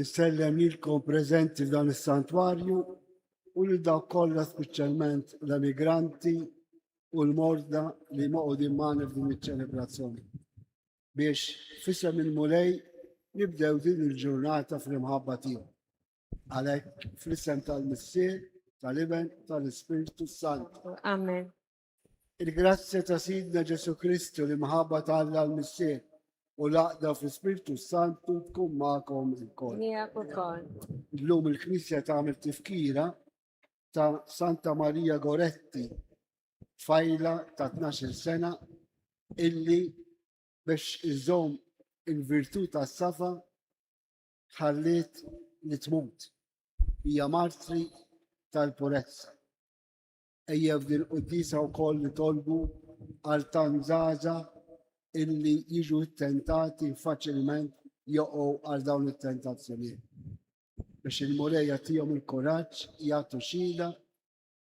Insellem lilkom preżenti f'dan is-santwarju u lil dawk kollha speċjalment l-emigranti u l-morda li moqogħdin magħna f'din iċ-ċelebrazzjoni. Biex fisem il-Mulej nibdew din il-ġurnata fl-imħabba tiegħu. Għalhekk fl-isem tal-Missier, tal-Iben, tal-Ispirtu Santu. Amen. Il-grazzja ta' Sidna Ġesu Kristu, l-imħabba ta' Alla l-Missier u l-għaqda fl-Ispirtu Santu tkun magħkom ilkoll. Miegħek ukoll. Illum il-Knisja tagħmel tifkira ta' Santa Marija Goretti, fajla ta' 12 sena illi biex iżom il-virtu ta' safa ħalliet li tmut. Hija martri tal-purezza. Ejja f'din il-quddiesa wkoll nitolbu għal tant żgħażagħ illi jiġu ttentati faċilment joqgħu għal dawn it-tentazzjonijiet. Biex il-Mulej jagħtihom il-kuraġġ jagħtu xhieda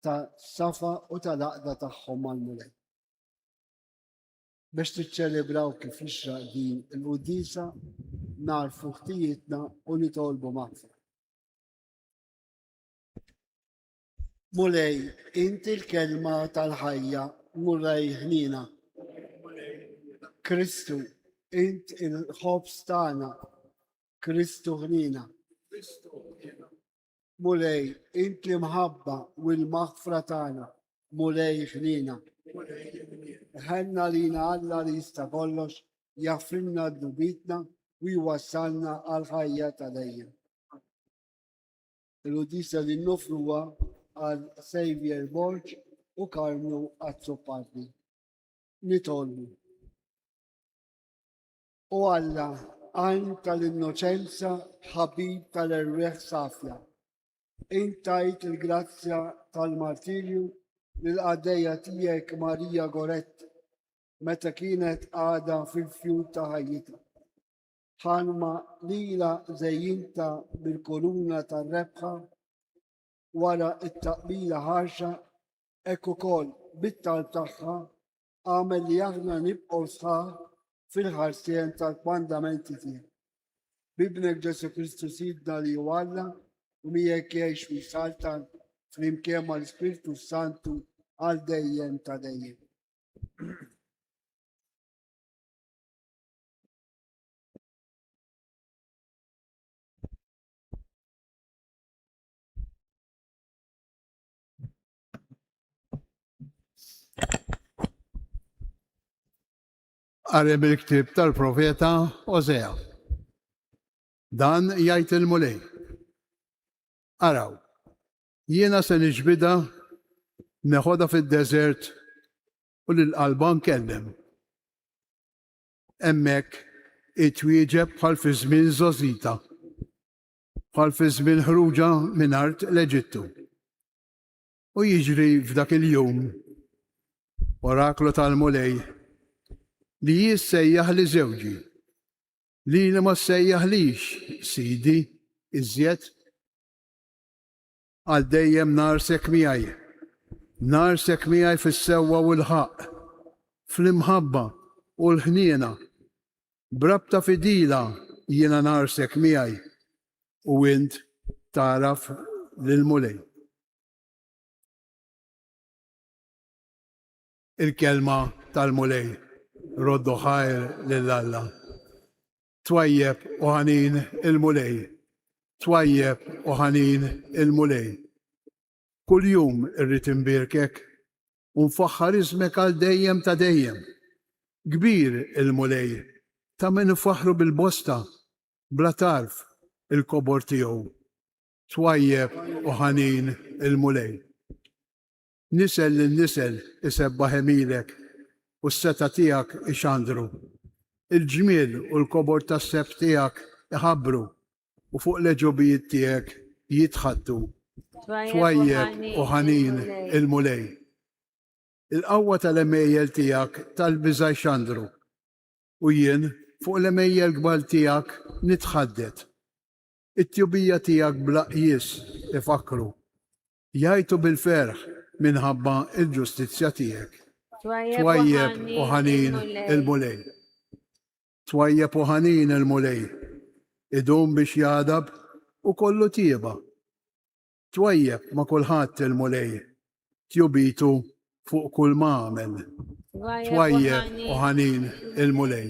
ta' safa u tal-għaqda tagħhom mal-Mulej. Biex tiċċelebraw kif jixraq din il-quddiesa narfu ħtijietna u nitolbu maħfra. Mulej, Inti l-Kelma tal-Ħajja, Mulej ħniena. Kristu, Int il-Ħobż tagħna, Kristu ħniena. Mulej, Int l-Imħabba u l-Maħfra tagħna, Mulej ħniena. Ħenna lina Alla li jista' kollox jaffrinna d-dubitna u jwassalna għal ħajja ta' dejjem. Il-uddizja li noffru huwa għal Xavier Borg u Carmelo Azzopardi. Nitolbu. O Alla, għajn tal-innoċenza ħabib tal-erwieħ safja, int tajt il-grazzja tal-martirju lill-qaddejja tiegħek Maria Goretti meta kienet għadha fil-fjur ta' ħajjitha. ħalma lilha żejjinta bil-kuruna tar-rebħa wara t-taqbila ħarxa, hekk ukoll bit-talb tagħha, għamel li aħna nibqgħu sħaħ fil-ħarsien tal-kmandamenti tiegħu. B'Ibnek Ġesù Kristu Sidna li hu Alla u miegħek jgħix u jsaltan flimkien mal-Ispirtu s-Santu għal dejjem ta' dejjem. Għarem il-ktib tal-profeta Ozea. Dan jgħid il-mulej. Araw, jiena se niġbida neħoda fid-deżert u l-qalba nkellem. Hemmhekk itwieġeb bħal fi żmien Żosita, bħal fi żmien ħruġha minn art l-Eġittu. U jiġri f'dak il-jum, oraklu tal-Mulej, li hi ssejjaħ li żewġi, lili ma ssejjaħlix sidi iżjed. Għal dejjem ngħarsek miegħi. Ngħarsek miegħi fis-sewwa u l-ħaqq, fl-imħabba u l-ħniena. B'rabta fidila jiena ngħarsek miegħi u int tagħraf lill-Mulej. Il-Kelma tal-Mulej, Roddu ħajr lil Alla. Twajjeb u ħanin il-Mulej, twajjeb u ħanin il-Mulej. Kuljum irrid inbierkek u nfaħħar ismek għal dejjem ta' dejjem. Kbir il-Mulej, ta' min ifaħħru bil-bosta, bla tarf, il-kobor tiegħu. Twajjeb u ħanin il-Mulej. Nisel lil nisel isebbaħ għemilek, u s-setgħa tiegħek ixandru. Il-ġmiel u l-kobor tas-sefq tiegħek iħabbru, u fuq l-għeġubijiet tiegħek jitħaddtu. Twajjeb u ħanin il-Mulej. Il-qawwa tal-għemejjel tiegħek tal-biża' jxandru, u jien fuq l-għemejjel kbar tiegħek nitħaddet. It-tjubija tiegħek bla qjies ifakkru, Jgħajtu bil-ferħ minħabba l-ġustizzja tiegħek. Twajjeb u ħanin il-Mulej. Twajjeb u ħanin il-Mulej, idum biex jagħdab u kollu tjieba. Twajjeb ma' kulħadd il-Mulej, tjubitu fuq kull m'għamel. Twajjeb u ħanin il-Mulej.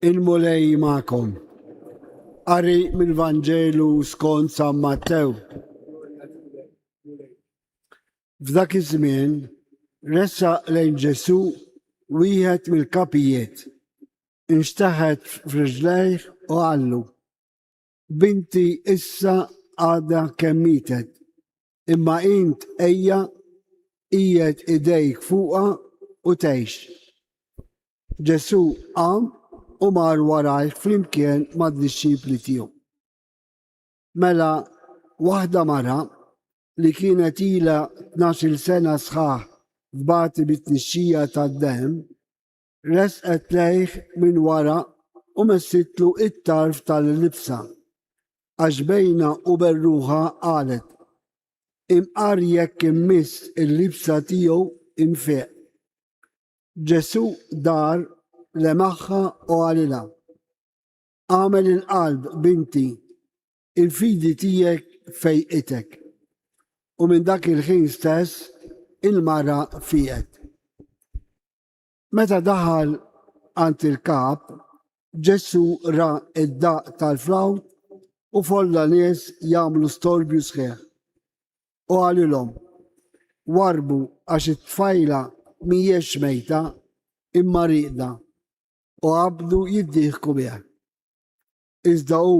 Il-Mulej magħkom. Qari mill-Vanġelu skont San Mattew. F'dak iż-żmien ressaq lejn Ġesù wieħed mill-kapijiet, inxtaħet f'riġlejh u qallu, Binti issa għadha kemm mietet, imma int ejja qiegħed idejk fuqha u tgħix. Ġesù qam u mar warajh flimkien mad-dixxipli tiegħu. Mela waħda mara li kienet ilha tnax-il sena sħaħ tbati bit-tnixxija tad-demm Resqet lejh minn wara u messitlu it-tarf tal-libsa, għax bejna u berruħa qalet, Imqar jekk immiss il-libsa tiegħu infieq. Ġesù dar, lemaħha u qalilha, Agħmel il-qalb, binti, il-fidi tiegħek fejqitek. U minn dak il-ħin stess il-mara fieqet. Meta daħal għand il-kap, Ġesù ra d-daqq tal-flawt u folla nies jagħmlu storbju sħiħ. U qalilhom, Warrbu għax it-tfajla mhijiex mejta, imma rieqda, u qabdu jiddieħku bih. Iżda hu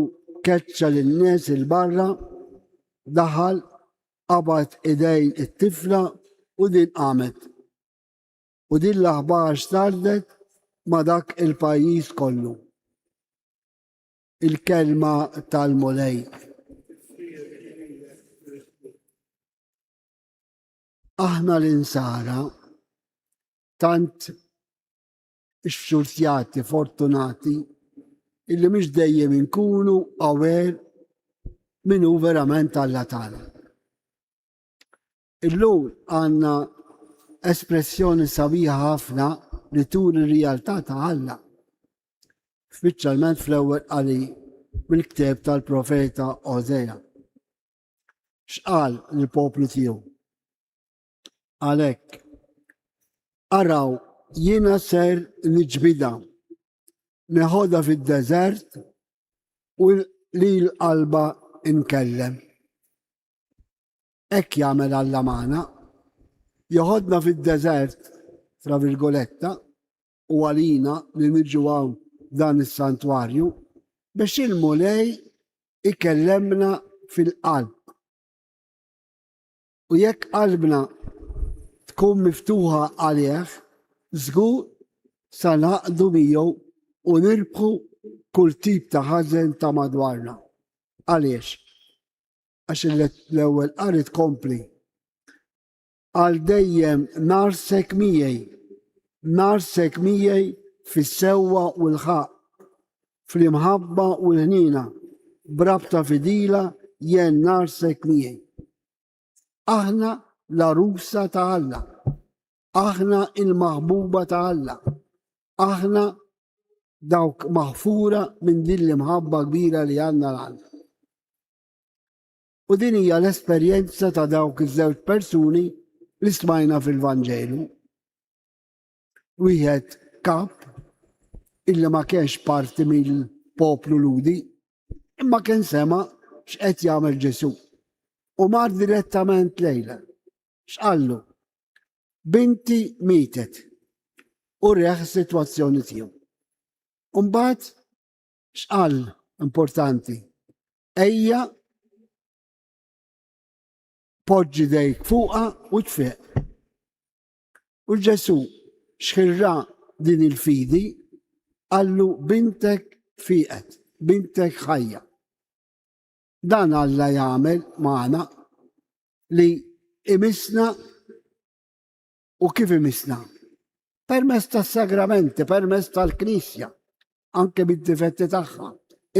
keċċa lin-nies il-barra, daħal, qabad idejn it-tifla u din qamet. u din l-aħbar stardnet ma' dak il-pajjiż kollu. Il-kelma tal-Mulej. Aħna l-insara tant xfxurzjati, fortunati, illi mhux dejjem inkunu aware min hu verament Alla tagħna. Illum għandna espressjoni sabiħa ħafna li turi r-rijaltà ta' Alla, speċjalment fl-ewwel qari mill-ktieb tal-profeta Ożea. X'qal lill-poplu tiegħu? Għalhekk, araw jiena ser niġbida, neħodha fid-deżert u li l-qalba nkellem. Hekk jagħmel Alla magħna. Joħodna fid-deżert, fra virgoletta, u għalina li niġu hawn f'dan is-santwarju biex il-Mulej ikellemna fil-qalb. U jekk qalbna tkun miftuħa għalih, żgur sa naqdu miegħu u nirbħu kull tip ta' ħażen ta' madwarna. Għaliex? għax l-ewwel qari tkompli. Għal dejjem narsek miegħi, narsek miegħi fis-sewwa u l-ħaq, fl-imħabba u l-ħnina, brabta fidila jen narsek miegħi. Aħna la rusa ta' Alla. Aħna l-maħbuba ta' Alla. Aħna dawk maħfura minn din l-imħabba kbira li għandna l-għandna. U din hija l-esperjenza ta' dawk iż-żewġ persuni li smajna fil-Vanġelu. Wieħed kap illi ma kienx parti mill-poplu ludi, imma kien sema x'qed jagħmel Ġesu. U mar direttament lejla. X'qallu? Binti mietet u reħ is-sitwazzjoni tiegħu. Imbagħad x'qal importanti? Ejja poġġi dejk fuqha u tfeq. U Ġesu xħirra din il-fidi qallu bintek fiqet, bintek ħajja. Dan Alla jagħmel magħna li imissna u kif imissna? Permezz tas-sagramenti, permezz tal-Knisja, anke bid-difetti tagħha.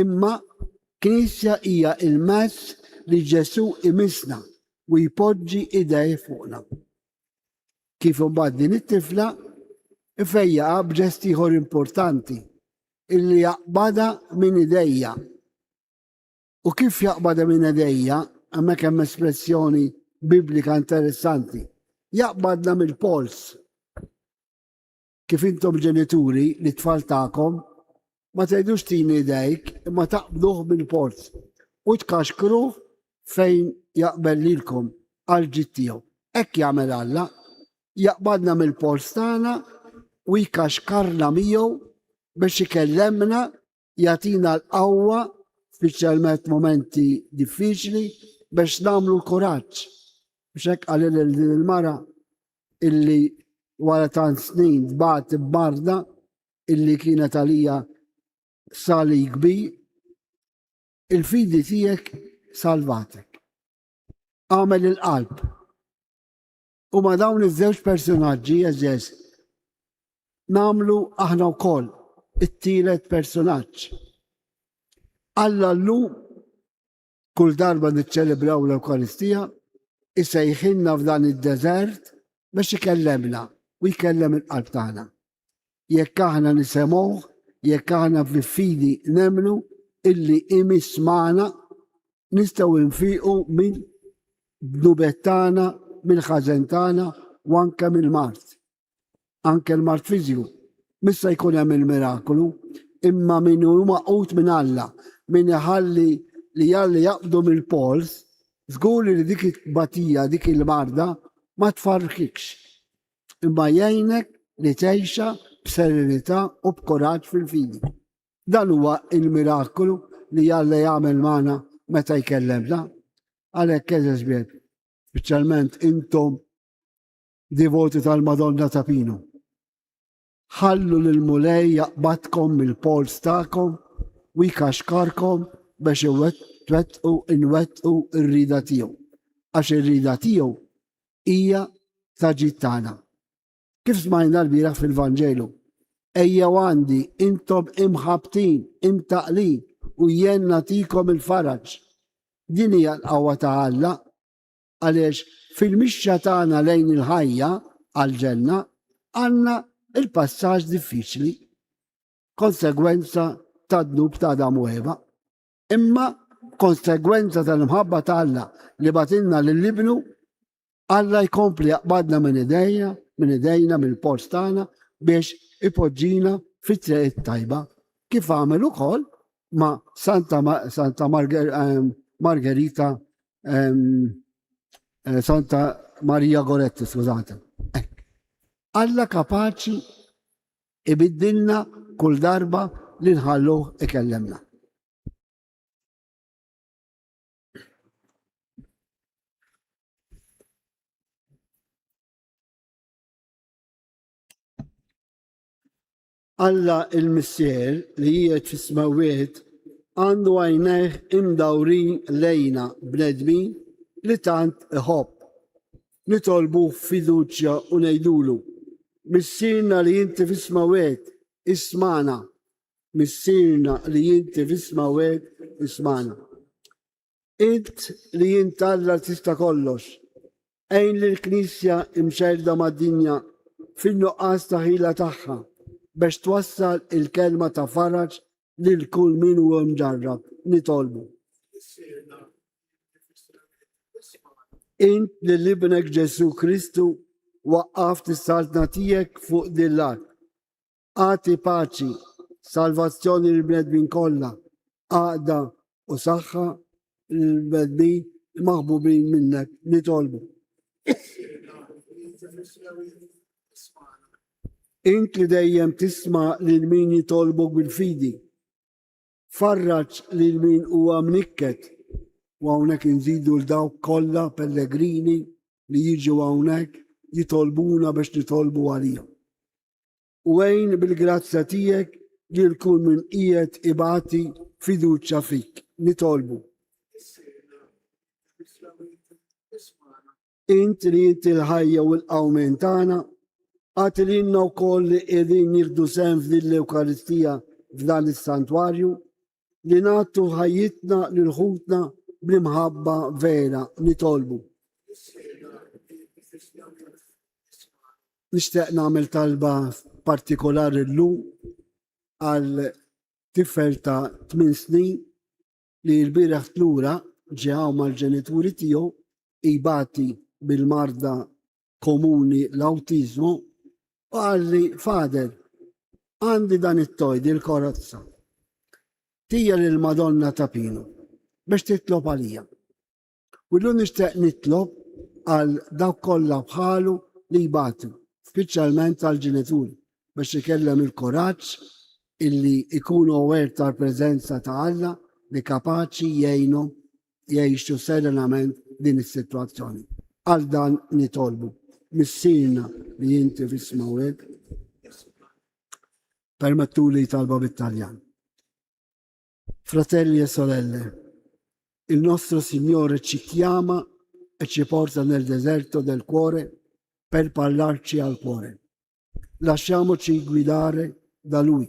Imma Knisja hija il-mezz li Ġesu imissna u jpoġġi idej fuqna. Kif imbagħad din it-tifla ifejjaqa b'ġest ieħor importanti illi jaqbada minn idejja U kif jaqbad hemm inedejja, hemmhekk hemm espressjoni Biblika interessanti. Jaqbadna mill-pols. Kif intom ġenituri li tfal tagħkom ma tgħidux tini idejk imma taqbduh mill-pols u tkaxkruh fejn jaqbel lilkom għal ġid tiegħu. Hekk jagħmel Alla, jaqbadna mill-pols tagħna u jkaxkarna miegħu biex ikellemna jagħtina l-qawwa speċjalment momenti diffiċli biex nagħmlu l-kuraġġ. Biex hekk għal din il-mara illi wara tant snin tbagħat barda illi kienet għalija sali kbi il-fidi tiegħek salvatek. Għamel il-qalb U ma' dawn iż-żewġ personaġġi għeżież nagħmlu aħna wkoll it-tielet personaġġ. Alla llum kull darba niċċelebraw l-Ewkaristija isejħilna f'dan id-deżert biex ikellemna u jkellem il-qalb tagħna. Jekk aħna nisemgħuh, jekk aħna fil-fidi nemlu illi imiss magħna, nistgħu nfiqu minn dnubet tagħna, mill-ħażen tagħna u anke mill-mart. Anke l-mart fiżju. Missa jkun hemm il-mirakolu, imma min hu maqut minn Alla, min iħalli li Alla jaqbdu mill-pols, żgur li dik it-batija, dik il-marda ma tfarrkikx. imma jgħinek li tgħixha b'serenità u b'kuraġġ fil-fidi. Dan huwa il-miraklu li Alla jagħmel magħna meta jkellemna. Għalhekk eżeż bieb, speċjalment intom divoti tal-Madonna ta' Pino. Ħallu lill-Mulej jaqbadkom mill-polz tagħkom u jkaxkarkom biex twettqu inwettqu r-rieda tiegħu, għax ir-rieda tiegħu hija ta' ġid tagħna. Kif smajna l-bieraħ fil-Vanġelu, ejjew għandi intom imħabtin, imtaqlin u jien nagħtikom il-faraġ. Din hija l-qawwa ta' Alla Għaliex fil-mixja tagħna lejn il-ħajja għall-ġenna għandna l-passaġġ diffiċli, konsegwenza tad-dnub ta' Adam u Eva, imma konsegwenza tal-imħabba ta' Alla li batilna lil ibnu Alla jkompli jaqbadna minn idejja, minn idejna, minn post tagħna biex ipoġġina fit-triq tajba kif għamel ukoll ma' Santa, ma Santa Marger, ehm, Margherita, ehm, eh, Santa Maria Goretti, skużate. Alla kapaċi ibiddilna kull darba li nħallu ikellemna. Alla l-Missier li qiegħed fis-smewwiet għandu għajnejh imdawrin lejna bnedmin li tant iħobb. Nitolbuh b'fiduċja u ngħidulu, Missierna li inti fis-smewwiet, ismagħna! Missierna li inti fis-smewwiet, ismagħna! Int li int Alla tista' kollox, għin lill-Knisja mxerrda mad-dinja fin-nuqqas ta' ħila tagħha biex twassal il-kelma ta' faraġ lil kull min hu mġarrab. Nitolbu. Int li l-Ibnek Ġesù Kristu waqqaft is-saltna tiegħek fuq din l-art. Agħti paċi, salvazzjoni lill-bnedmin kollha, għaqda u saħħa lill-bnedmin maħbubin minnek nitolbu. Int li dejjem tisma lil min jitolbu bil-fidi. Farraġ lil min huwa mnikket u hawnhekk inżidu l dawk kollha pellegrini li jiġu hawnhekk jitolbuna biex nitolbu għalihom. u għin bil-grazzja tiegħek lil kull min qiegħed ibati fiduċja fik. Nitolbu. Int li inti l-ħajja u l-qawmen tagħna, għati li inna wkoll li qegħdin jieħdu sehem f'din l-Ewkaristija f'dan is-santwarju, li nagħtu ħajjitna lil ħutna bl-imħabba vera nitolbu. Nixtieq nagħmel talba partikolari llum għal tifel ta' 8 snin li l-bieraħ tlura ġew mal-ġenituri tiegħu ibati bil-marda komuni l-awtiżmu, qalli fader, għandi dan it-tojd il-korazza. Tija lil madonna ta' Pinu biex titlob għalija. U l nixtieq nitlob għal dawk kollha bħalu li jbatu, speċjalment għal ġenituri biex ikellem il-koraġġ illi ikunu aware tal-preżenza ta' Alla li kapaċi jgħinhom jgħixu serenament din is-sitwazzjoni. Għal dan nitolbu missirna li inti fismaw hekk permettu li talba bit-Taljan. Fratelli e sorelle, il nostro Signore ci chiama e ci porta nel deserto del cuore per parlarci al cuore. Lasciamoci guidare da Lui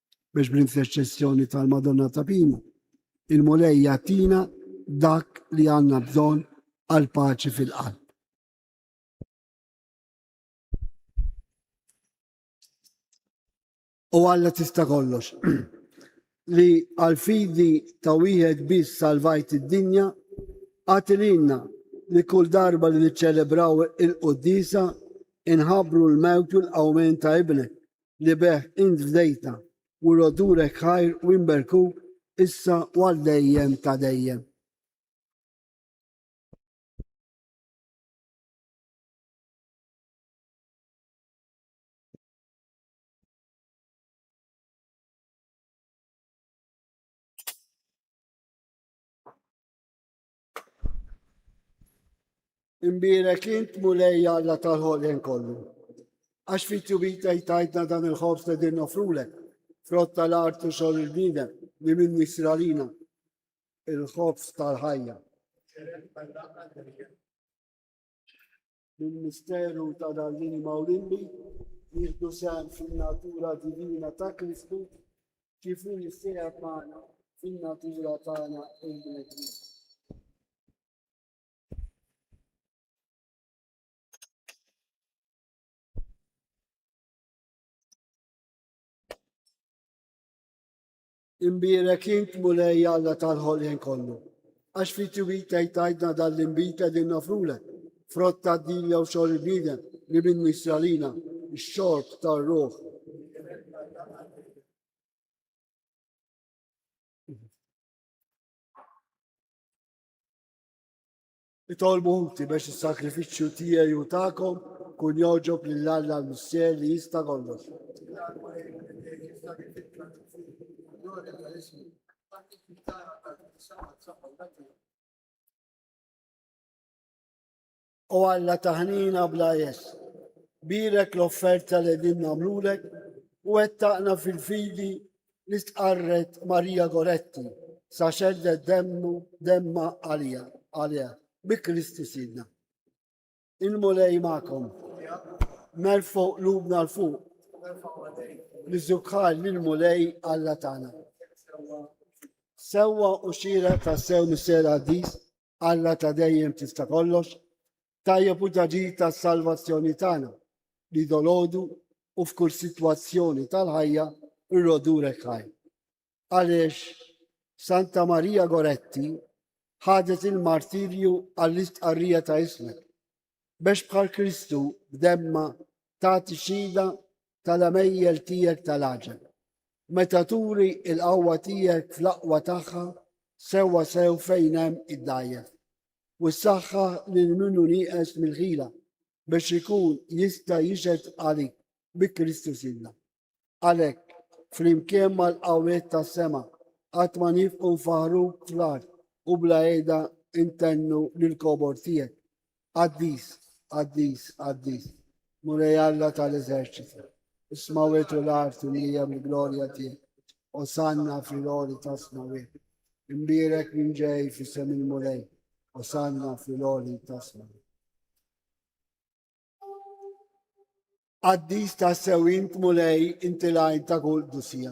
biex bl-interċessjoni tal-Madonna ta' Pinu, il-Mulej jatina dak li għanna bżon għal paċi fil-qalb. U għalla tista' kollox li għal fidi ta' wieħed biss salvajt id-dinja għatilinna li kull darba li niċċelebraw il-qoddisa inħabru l-mewt u l-qawmen ta' ibnek li bih int fdejtna, u l-odurek ħajr u imberkuk issa u għal dejjem ta' dejjem. Imbirek int mulej Alla tal-ħolqien kollu. Għax fit jubita jtajtna dan il-ħobs li din nofrulek, frott tal-art u xogħol il-bniedem li minn nisralina il-ħobs tal-ħajja. bil-misteru ta' l-għalliem Maulimbi, nieħdu sehem fin-natura divina ta' Kristu kif hu jissieħeb magħna fin-natura tagħna l-bnedmin. Imbierek int, Mulej Alla tal-ħolqien kollu, għax fit-twil tgħid tgħidna dan l-inbid qegħdin noffrulek, frott tad-dil jew xogħol il-bniedem li minnu jsir għalina x-xorb tar-ruħ. Itolbu inti biex is-sagrifiċċju tiegħi u tagħkom ikun jogħġob lil Alla l-Missier li jista' kollox. O Alla taħnina bla jes, birek l-offerta li din namlulek u għettaqna fil-fidi li stqarret Maria Goretti sa xeddet demmu demma għalija għalija bi Kristu Sidna. Il-Mulej magħkom. Nerfgħu qlubna l fuq. Niżżukħar lil Mulej Alla tagħna. Sewwa u xira ta' sew mis-sera għaddis Alla ta' dejjem tista' kollox Tajjeb hu t-taġid tas-salvazzjoni tagħna, li dolodu u f'kull sitwazzjoni tal-ħajja rrodulek ħaj. Għaliex Santa Marija Goretti ħadet il-martirju għall-istqarrija ta' ismek, biex bħal Kristu b'demma tagħti xhieda tal-għemejjel tiegħek tal-għaġeb. Meta turi l-qawwa tiegħek fl-aqwa tagħha sewwa sew fejn hemm id-dgħajjef. u ssaħħaħ lil min hu nieqes mill-ħila biex ikun jista' jixhed għalik bi Kristu Sidna. Għalhekk, flimkien mal-qawwiet tas-sema, qatt ma nifqu nfaħruk fl-art u bla qiegħda intennu lill-kobor tiegħek. Qaddis, qaddis, qaddis. Mulej Alla ta' l-eżerċiti, is-smawwiet u l-art imlija mill-glorja tiegħek. Osanna fil-għoli tas-smawwiet. Imbierek min ġej f'isem il-Mulej. Osanna fil-għoli tas-smawwiet. Qaddis ta' sewint mulej inti lajn ta' kull dusija.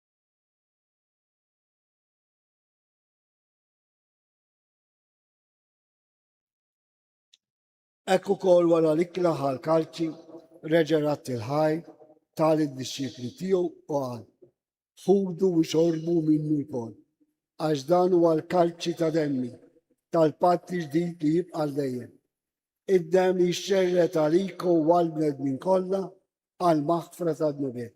Hekk ukoll wara li klaħa l-kalċi reġa' radd il-ħaj ta' lid-dixxipli tiegħu u qal, Ħudu u xorbu minnu wkoll, għax dan huwa l-kalċi ta' demmi tal-patt ġdid li jibqa' dejjem. Id-demm jixxerred għalikom u għall-bnedmin kollha għall-maħfra tad-dnubiet.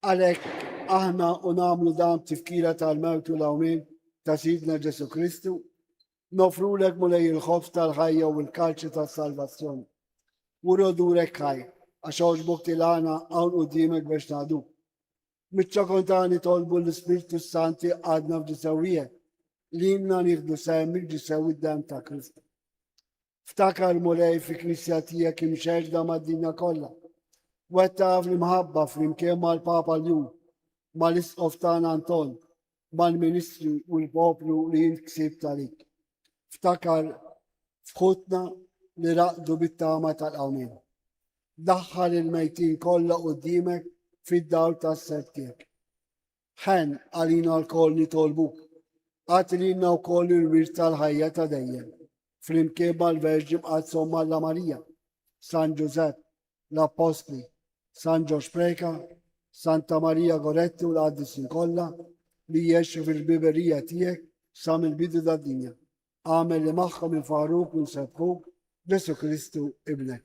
Għalhekk aħna u nagħmlu dan b'tifkira tal-mewt u l-għawmien ta' Sidna Ġesù Kristu, nofrulek Mulej il-ħobż tal-ħajja u l-kalċi tas-salvazzjoni. Wuri odurek ħaj, għax għoġbok tilgħana hawn quddiemek biex ngħaduk. Mit-ċokon ta' nitolbu l-Ispirtu s-Santi għadna f'ġisewwiegħek, li jimna nieħdu sehem mill-ġisew id-demm ta' Kristu. Ftakar Mulej fi Knisja tiegħek imxerda mad-dinja kollha. Wettaq fl-imħabba flimkien mal-Papa Ljun, mal-Isqof tagħna Anton, mal-ministri u l-poplu li jint ksib talik. Ftakar f'ħutna li raqdu bit-tama tal-qawmin. Daħħal il-mejtin kollha qudiemek fid-dawl tas-ser tiegħek. Ħen għalina lkoll nitolbu. Agħti lilna wkoll il-wirt tal-ħajja ta' dejjem, flimkien mal-Verġi Mqaddsa Omm Alla Marija, San Ġużepp, l-Appostli, San Ġorġ Preca, Santa Marija Goretti u l-Qaddisin kollha li jgħexu fil-ħbiberija tiegħek sa mill-bidu tad-dinja. Agħmel li magħhom infaħruk u nsebħuk Ġesu Kristu Ibnek.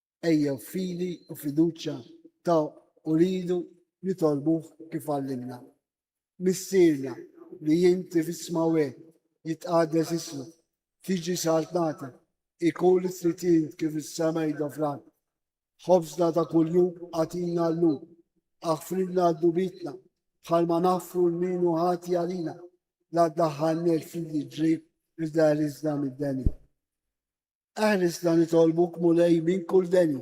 Ejjew f'fidi u fiduċja ta' u ridu nitolbuh kif għallimna. Missierna li inti fis-smawet, jitqaddes ismuk, tiġi saltnata, ikun it-tried tiegħek kif is-sema hija fl-art. Ħobżna ta' kuljum agħtina llum. Aħfrilna d-dubitna bħalma naħfru l-min hu ħati għalina. La ddaħħalniex fil-ġrib iżda erriżna mid-deni. Eħrisna nitolbuk, Mulej, minn kull deni.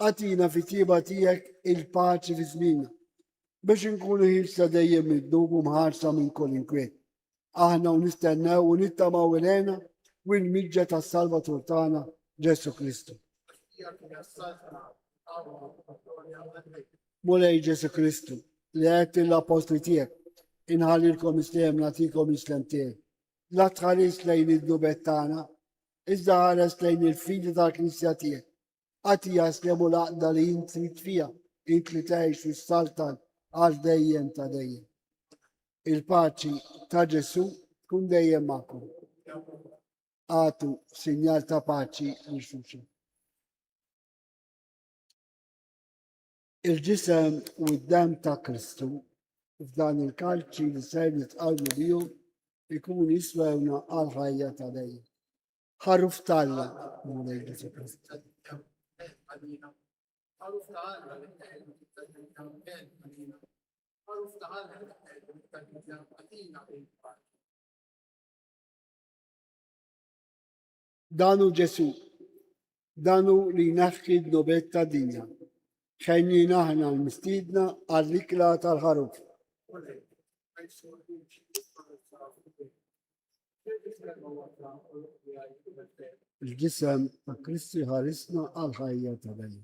Agħtina fit-tjieba tiegħek il-paċi fi żmienna, biex inkunu ħielsa dejjem mid-dnub u mħarsa minn kull inkwiet. Aħna hawn nistennew u nittamaw il-għena u l-miġja tas-Salvatur tagħna, Ġesù Kristu. Mulej Ġesù Kristu, li għedt lill-appostli tiegħek, inħallilkom islem nagħtikom l-islem tiegħi. La tħarisx lejn id-dnubet tagħna, iżda ħares lejn il-fidi tal-Knisja tiegħek. Agħti jaslem u l-għaqda li int trid fiha, int li tgħix u ssaltan għal dejjem ta' dejjem. Il-paċi ta' Ġesù tkun dejjem magħkom. Għatu sinjal ta' paċi lil xulxin. Il-ġisem u d-dem ta' Kristu f'dan il-kalċi li ser nitqalmu biju ikun jiswewna għal ħajja ta' lej. Ħaruf talla Mulej Ġesu Kristu. Ħaruf talla li teħlu ta' ben għalina. Ħaruf talla li teħlu ta' ben għalina. Dan hu Ġesù. Dan hu li jneħħi d-dnubet tad-dinja. Ħenjin aħna l-mistiedna għall-ikla tal-ħaruf. Il-ġisem ta' Kristi ħarisna għal ħajja ta' bejn.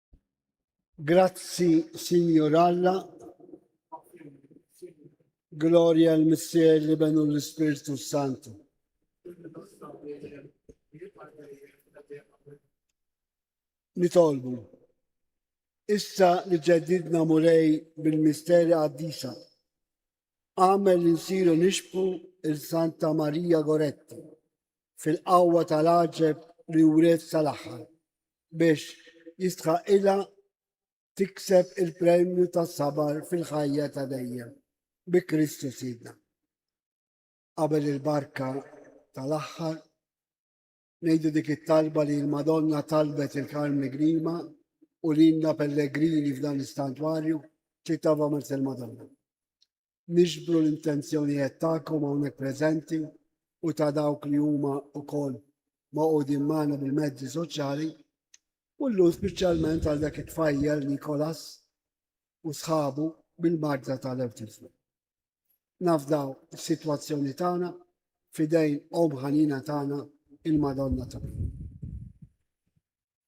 Grazzi, Sinjur Alla. Gloria al Missier li benu l-Ispirtu Santu. Nitolbu. Issa li ġedidna murej bil-misteri għaddisa. Għamel insiru nixbu il-Santa Maria Goretti fil-qawwa tal-aġeb li wret sal-aħħar biex jistħaqqilha tikseb il-premju tas-sabar fil-ħajja ta' dejjem bi Kristu Sidna. Qabel il-barka tal-aħħar, ngħidu dik it-talba li l-Madonna talbet il-Karmni Grima u lilna pellegrini f'dan l-istantwarju ċitava mers il-Madonna. niġbru l-intenzjonijet tagħkom hawnhekk preżenti u ta' dawk li huma wkoll magħqudin magħna bil-mezzi soċjali u llum speċjalment għal dak it-tfajjel Nikolas u sħabu bil-marda tal-awtiżmu. Nafdaw is-sitwazzjoni tagħna fidejn Om Ħanina tagħna il-Madonna tagħna.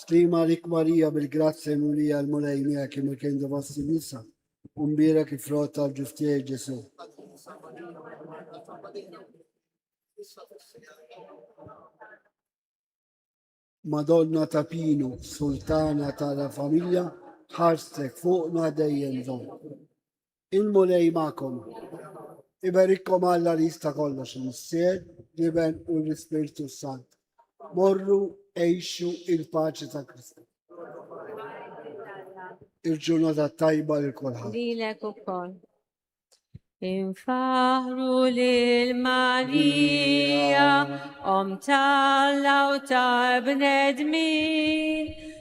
Stima li kmarija bil-grazzja mulija l-mulej mija kim il-kien devassi nisa, umbira kif rot tal-ġustija ġesu. Madonna ta' Pinu, sultana ta' la familja, ħarstek fuqna dejjem don. Il-Mulej magħkom. Iberikkom Alla li jista' kollox il-Missier, l-Iben u l-Ispirtu s-Sant. Morru għejxu il-paċi ta' Kristu. Il-ġurnata tajba lil kulħadd. Lilek ukoll. Infaħru lil Marija, om tal-law ta' bnedmin,